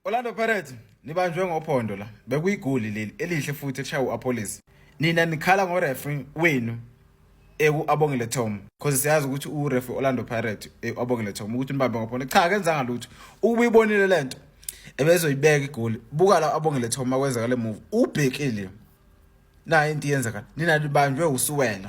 Orlando Pirates nibanjwe ngophondo la bekuyigoli leli elihle futhi eshaya uApolis nina nikhala ngoreferee wenu eku abongile Tom because siyazi ukuthi ureferee Orlando Pirates eku abongile Tom ukuthi nibambe ngophondo cha akenzanga lutho ubuyibonile lento ebezoyibeka igoli buka la abongile Tom makwenzeka le move ubhekile nayo into yenzeka nina nibanjwe usuwena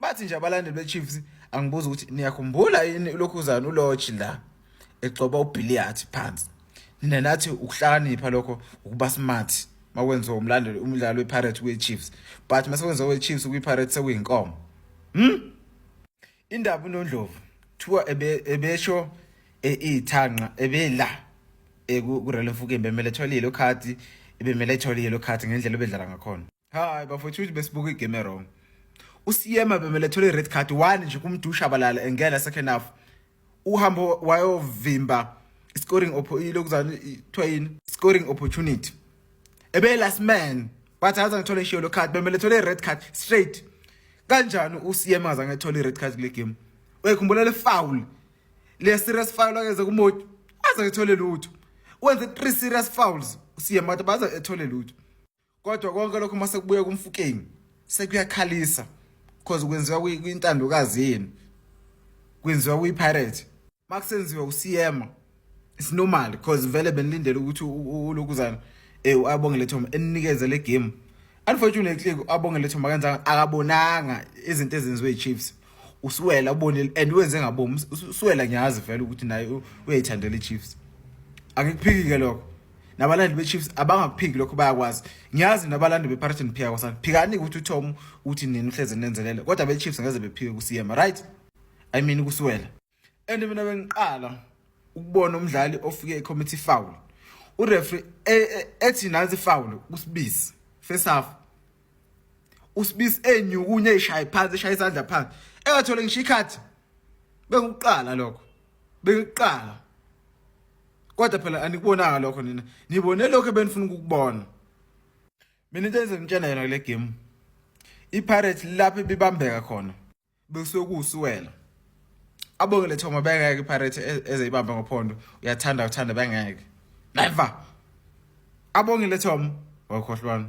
bathi nje abalandeli beChiefs angibuza ukuthi niyakhumbula yini ulokhuzana uLodge la egcoba uBilliat phansi nina nathi ukuhlakanipha lokho ukuba smart makwenziwa umlandeli umdlalo wePirates kweChiefs but masekwenziwa kweChiefs kwiPirates sekuyinkomo hm indaba uNondlovu kuthiwa ebesho e, ithanqa ebela e, kurele mfukembe emele etholile ukhati ebemele etholile ukhati ngendlela obedlala ngakhona hayi bafowethu ukuthi besibuka igame erong usiyema bemele thole i-red card one nje kumdusha abalala engena second half uhambo wayovimba scoring lokuzana kuthiwa yini scoring opportunity ebe last man wathi aze ngithole ishiyo lo card bemele thole i-red card straight kanjani ucm aze ngethole i-red card kule game uyayikhumbula le foul le serious foul akenze kumoti aze ngethole lutho wenze three serious fouls ucm wathi baze ethole lutho kodwa konke lokho uma sekubuya kumfukeni sekuyakhalisa because kwenziwa kwintandokazi yenu kwenziwa kuyipirate uma kusenziwa usiyema it's normal because vele benilindele ukuthi ulokuzana um eh, abongele thoma eninikeze le game unfortunately abongele thoma kanjanga akabonanga izinto ezenziwe i-chiefs usuwela ubonile and wenze ngabomi usuwela ngiyazi vele ukuthi naye uyayithandela i-chiefs angikuphiki-ke lokho nabalandeli beChiefs abangakuphiki lokho bayakwazi ngiyazi nabalandeli bePirates and Pierre kwasana phikani ukuthi uTom uthi nini uhleze nenzelele kodwa beChiefs ngeze bephike kuSiyema right i mean kusiwela and mina bengiqala ukubona umdlali ofike ecommittee foul ureferee e, e, ethi nansi foul kusibizi first half usibizi enyukunye ishaye phansi eshaye isandla phansi engathole ngisho ikhathi bekuqala lokho bekuqala kodwa phela anikubonanga lokho nina nibone lokho ebenifuna ukukubona mina into enze ngitshena yona kule game ipirates lapho ibibambeka khona bekusuke kuwusuwela abongele thoma bengeke ipirates e-, ezeyibambe ngophondo uyathanda uthanda bengeke never abongele thoma wakhohlwana